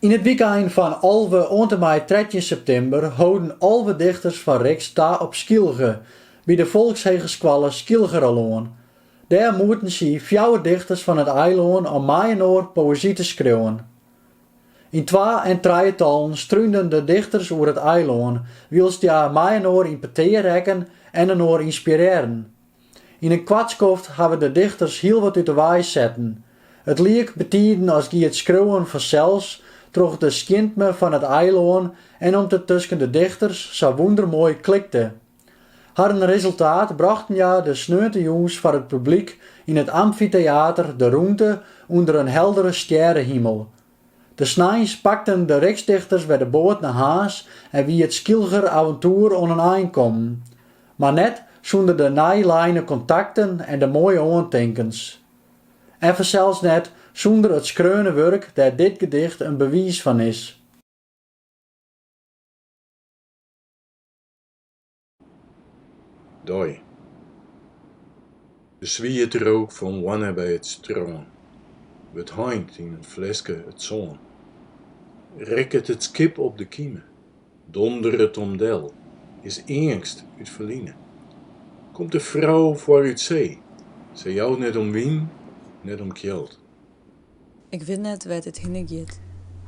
Yn it wykein fan alve oant en mei trettjin septimber holden alve dichters fan RIXT ta op Skylge, by de folkshegeskoalle Schylgeralân. Dêr moeten sy fjouwer dichters fan it eilân, om mei-inoar poëzy te skriuwen. Yn twa- en trijetallen strúnden de dichters oer it eilân, wylst hja mei-inoar yn petear rekken en inoar ynspirearren. Yn in koart skoft hawwe de dichters hiel wat út de wei setten. It liek betiden as gie it skriuwen fansels troch de skjintme fan it eilân en om't it tusken de dichters sa wûndermoai klikte. Harren resultaat brochten hja de sneontejûns foar it publyk yn it amfiteater De Rûnte ûnder in heldere stjerrehimel. De sneins pakten de RIXT-dichters wer de boat nei Harns en wie it Skylger aventoer oan in ein kommen. Mar net sûnder de nij leine kontakten en de moaie oantinkens. En fansels net sûnder it skreaune wurk dêr't dit gedicht in bewiis fan is. dei. De swiete rook fan Wanne by it strân wurdt heind yn in fleske it sân. Rekket it skip op de kime, donderet om del, is eangst út ferline. Komt de frou foar út see, sy jout net om wyn, net om kjeld. Ik wit net wêr't it hinne giet.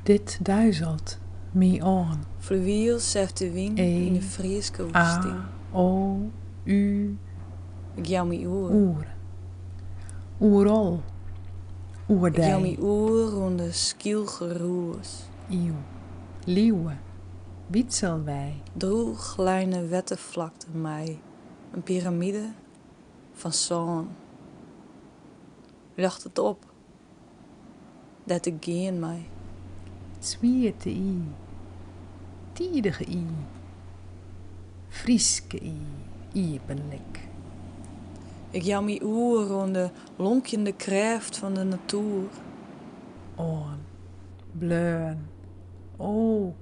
Dit duizelt my oan. Fluwielsêft de wyn yn de Fryske woestyn. E, a, o, u, e. Ik jou my oer. Oer. Oerol. Oer dy. Ik jou my oer oan de Skylger rûs. Iuw. Liuwe. Wytsel wy. Drûchleine wetterflakte mei in piramide fan sân. Ljochtet op. Dêr't ik gean mei. Swiete y. Tidige y. Fryske y. Iepenlik. Ik jou my oer oan de lonkjende krêft fan de natoer. Oan. Bleaun. O!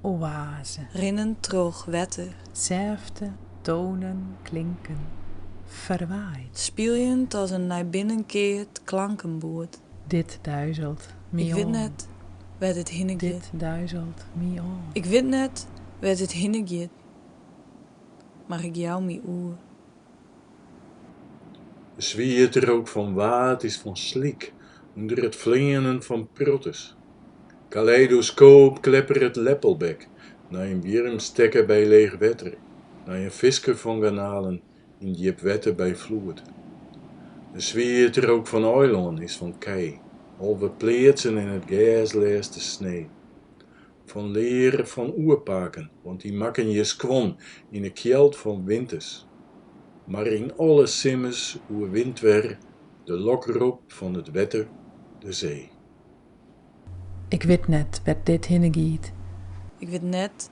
oaze. Rinnen troch wetter. Sêfte tonen klinken ferwaaid. Spyljend as in nei binnen keard klankenboerd. Dit duizelt my oan. Ik wit net wêr't it hinne giet. Dit duizelt my oan. Ik wit net wêr't it hinne giet, mar ik jou my oer. De swiete rook fan Waad is fan slyk ûnder it fleanen fan protters. Kaleidoskoop klepperet leppelbek nei in wjirmstekker by leech wetter nei in fisker fan garnalen yn djip wetter by floed. De swiete rook fan eilân is fan kij, alve pleatsen en it gers lêste snee. fan lear fan oerpaken, want dy makken hjir skuon yn 'e kjeld fan winters. Mar yn alle simmers oerwint wer de lokrop fan it wetter de see. Ik wit net wêr't dit hinne giet. Ik wit net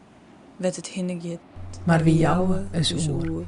wêr't it hinne giet. Mar wy jouwe ús oer.